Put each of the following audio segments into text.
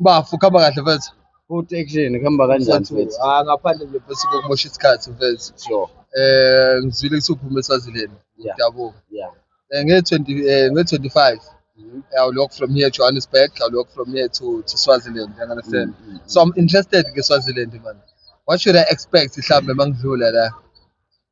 Bafo khamba kahle mfethu. Futhi action khamba kanjani mfethu? Ah ngaphandle nje mfethu kokumosha isikhathi mfethu. Sure. Eh ngizwile ukuthi uphume eSwaziland. Yeah. Yabo. Yeah. Eh nge 20 eh nge 25. Mm-hmm. I'll walk from here to Johannesburg, I'll walk from here to, to Swaziland, you understand? Mm -hmm. So I'm interested in Swaziland, man. What should I expect, Islam, among Zula?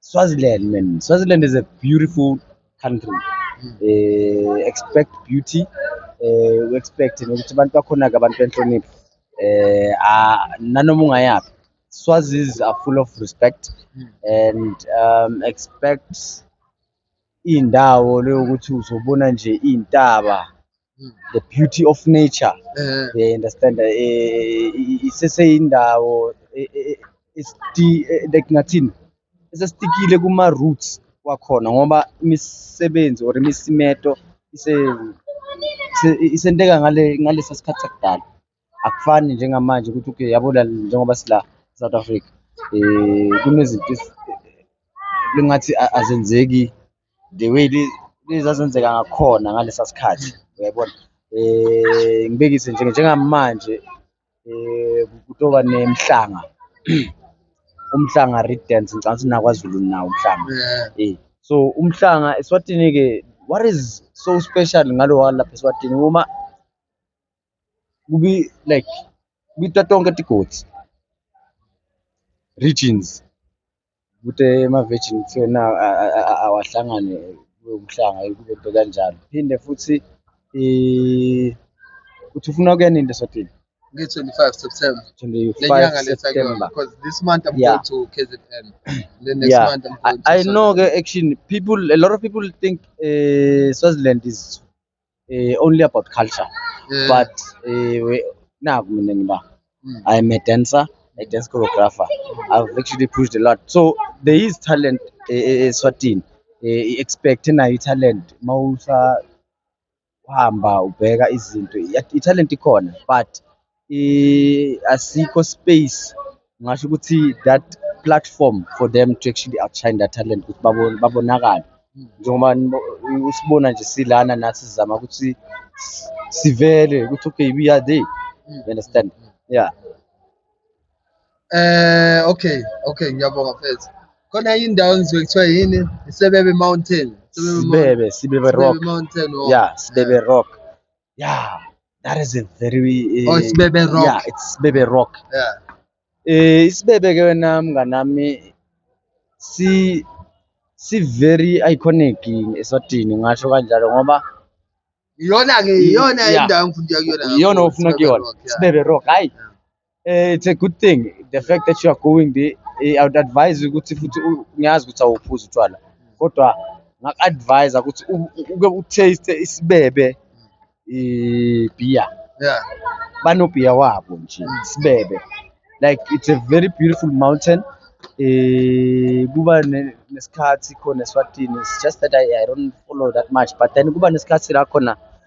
Swaziland, man. Swaziland is a beautiful country. Uh, expect beauty. Uh, we expect nokuthi abantu bakhona ke abantu benhlonipho. Eh uh, nanoma ungayaphi. Swazis are full of respect and um, expect iy'ndawo le yokuthi uzobona nje iy'ntaba the beauty of nature Eh, yeah, understand eh, i- iseseyindawo eh, eh, eh, esti- eh, like ngathini esesitikile kuma-roots wakhona ngoba imisebenzi or imisimeto ise- ise- isenteka ngale- ngalesa sikhathi sakudala akufani njengamanje ukuthi okay yabona njengoba sila South Africa eh kunezinto lingathi azenzeki the way lezazenzeka ngakhona ngalesa sikhathi uyayibona eh ngibekise nje njengamanje eh kutoba nemhlanga umhlanga read dance ngicabanga ukuthi nakwaZulu nawo umhlanga eh so umhlanga eSwatini ke what is so special ngalo walapha eSwatini uma kubi like kubita tonke tigodzi regions kute ema-virgin kuthiwe na awahlangane kube umhlanga kube nto kanjalo phinde futhi um uthi ufuna ukuya nini lesotini nge-25 September. 25 September. Because this month I'm yeah. going to KZN. Then next yeah. month I'm going I, to I know, action, people, a lot of people think uh, Swaziland is eh, only about culture Eh, but eh, we- naku mina ngiba Mm. i am a dancer a dance choreographer i've actually pushed a lot so there is talent eh, eh, eswatini eh, i-expect nayo i-talent uma usahamba ubheka izinto iya- i-talent ikhona but asikho space ngasho ukuthi that platform for them to actually outshine their talent ukuthi babonakale njengoba usibona nje silana nathi sizama ukuthi sivele ukuthi okay we are there you understand yeah eh okay okay ngiyabonga mfethu khona indawo engizwe kuthiwa yini isebebe mountain sibebe sibebe rock yeah sibebe rock Yeah, that is a very uh, Oh, it's Bebe Rock. Yeah, it's Bebe Rock. Yeah. Eh isibebe ke wena mnganami si si very iconic eSwatini ngasho kanjalo ngoba Iyona ke iyona Yeah. indawo engifundile kuyona. iyona ofuna kuyona. Sibebe Rock. Hayi. Eh, it's a good thing the fact that you are going there eh, i would advise you ukuthi futhi u- ngiyazi ukuthi awuphuzi utshwala kodwa ngaku-advise ukuthi u- u- uke utaste isibebe ibhiya Yeah. banobhiya wabo nje isibebe like it's a very beautiful mountain eh kuba ne- nesikhathi khona eswatini it's just that I, i don't follow that much but then kuba nesikhathi la khona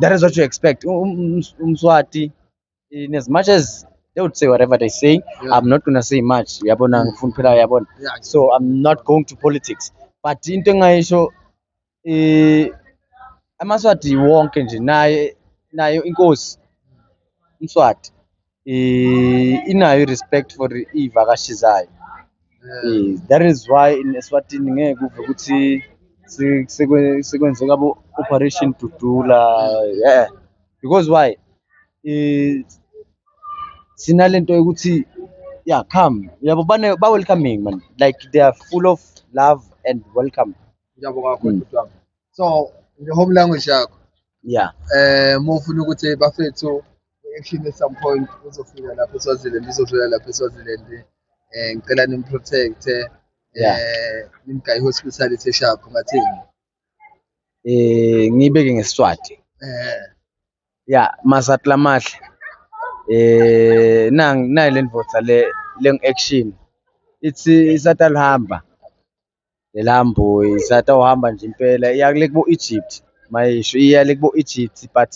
that is what you expect umswati um, um, in as much as they would say whatever they say yeah. i'm not gonna say much uyabona mm. ngifuna phela uyabona so i'm not going to politics but into engayisho eh amaswati wonke nje naye nayo inkosi umswati eh, inayo i-respect for iy'vakashi zayo Eh, that is why in eswatini ngeke uve ukuthi se- sekwe- sekwenzeka abo-operation dudula yeah. because why Eh, sinale nto yokuthi yeah come yabo bane- ba-welcoming man like they are full of love and welcome Ngiyabonga kakhulu Mm. bhuti wami. So nge-home language yakho yeah um uma ufuna ukuthi bafethu Actually at some point uzofika lapha eSwaziland ngizodlula lapha eSwaziland eh ngicela nimprotect eh Yeah. nimgayi hospitality sharp ngathini Eh ngibeke ngesiswati. eh Ya masatla mahle. Eh nang nayi lendvodza le leng action. Ithi isatalihamba. Lelambo isatawuhamba nje impela iya kule kubo Egypt mayisho iya le kubo Egypt but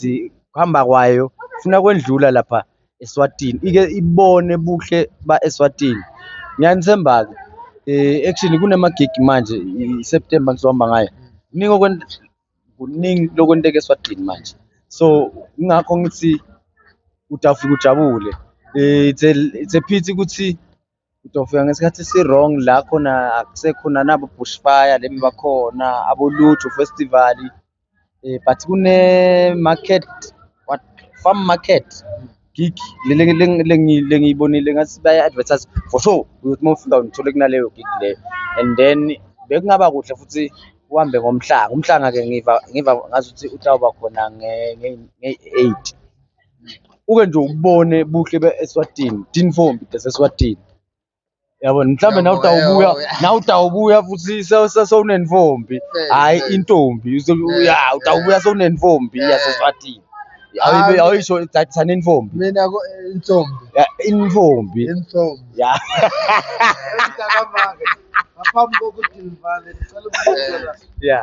kuhamba kwayo funa kwendlula lapha eSwatini ike ibone buhle ba eSwatini ngiyanithemba ke eh actually kunama gig manje iSeptember ngizohamba ngayo kuningi okwenza kuningi lokwenteka eSwatini manje so ingakho ngithi utafika ujabule eh it's a, it's a pity ukuthi Uzofika ngesikhathi si-wrong la khona akusekhona nabo bushfire lemi bakhona abolutho festival eh, but kune-market what farm market gig lengiyibonile ngathi baya-advertise for sure uyothi uma ufika ngithole kunaleyo gig leyo and then bekungaba kuhle futhi uhambe ngomhlanga umhlanga-ke ngiva ngiva ngazuthi uhlawuba khona ngeyi-eight uke nje ubone buhle be-eswatini tinfombi deseswatini yabona mhlawumbe nawe utawubuya nawe utawubuya futhi sewunenfombi hhayi intombi ya utawubuya sewunenfombi yaseswatini awuyisho thathana infombi mina intombi intombi intombi ya ngaphambi kokuthi ngivale ngicela ukubuza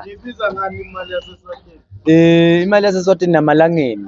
ngibiza ngani imali yaseswatini um imali yaseswatini namalangeni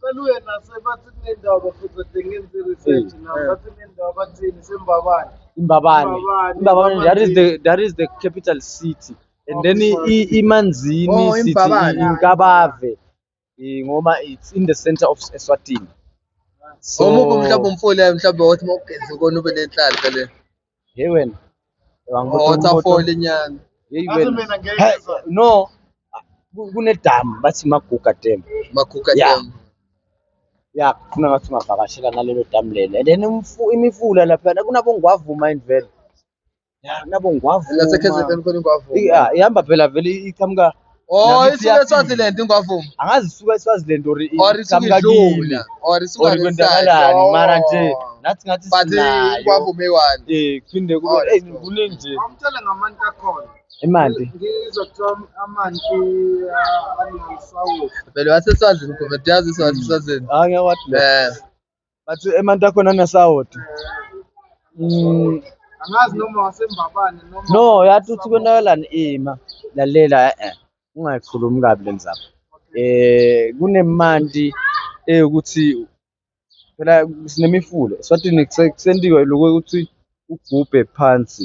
Cela uye nasebathi kunendawo bafutha ngenze research na bathi kunendawo bathini sembabane. Imbabane. Imbabane. Imbabane that is the that is the capital city. And then i- i- imanzini Oh, sithi Imbabane. i- inkabave Eh, ngoma it's in the center of eswatini so Omuphi mhlawumbe umfoli yayo mhlawumbe wathi mawugeze kona ube nenhlanhla le. Hey wena. Wangibuka Oh, umoto. waterfall nyana. Hey Ngaze wena. mina ngeke Hey, ngizwa. no. Ku- Kunedamu bathi maguga dam. Maguga Yeah. dam. Ya, kufuna ngathi ungavakashela nalelo damu lelo. And then umfu- imifula lapha kunabongwavuma indvelo. Ya, kunabongwavuma. Nase KZN khona ingwavuma. Yeah, ihamba phela vele iqhamuka Oh, isuke eSwaziland ingwavuma. Angazi isuke eSwaziland or or isuke idlula or isuke kwenzakalani mara nje oh. nathi ngathi sinayo. But ingwavuma eyi-one. Eh, kuphinde kube oh, eh kuningi nje. Awumtshele ngamanti akhona. Imali. Ngizokuthiwa amanti uh, anesawuthi. Vele waseswazini, Mgombe, uyazi iswazini. Hayi, ngiyawathi. Eh. but emanti akhona anasawoti mm. angazi noma wasembabane noma no yathi uthi konakala ima lalela eh ungayikhulumi kabi lenzaba eh kunemanti eyokuthi phela sinemifula eswatini kusendiwe lokho ukuthi ugubhe phansi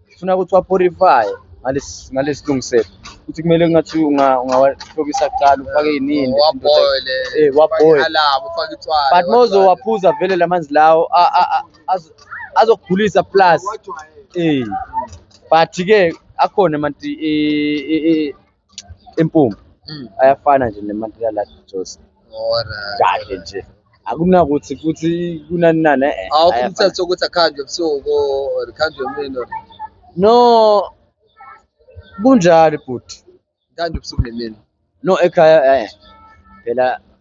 Ngifuna ukuthi waphorifaye nalesilungiselo ukuthi kumele kungathi ungawahlobisa kuqala ufake yinini waboile eh waboile alamu ufake itshwala but mozo waphuza vele lamanzi lawo azokugulisa plus eh but ke akhona manje impumbu Mm. ayafana nje nemantika la Josi Alright. kahle nje akunakuthi futhi kunani nani eh, eh, Awukho ayafana. umthetho ukuthi akhandwe ebusuku or akhandwe emini or no kunjalo bhuti akhandwe ebusuku nemini. no ekhaya eh phela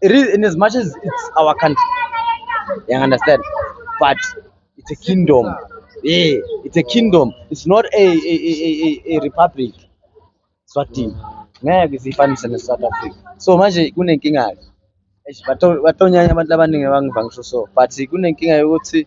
it is in as much as it's our country you understand but it's a kingdom yeah it's a kingdom it's not a a a, a, a republic swatini ngeke siyifanise ne-south africa so manje kunenkinga-ke batonyanya abantu abaningi abangiva ngisho so but kunenkinga yokuthi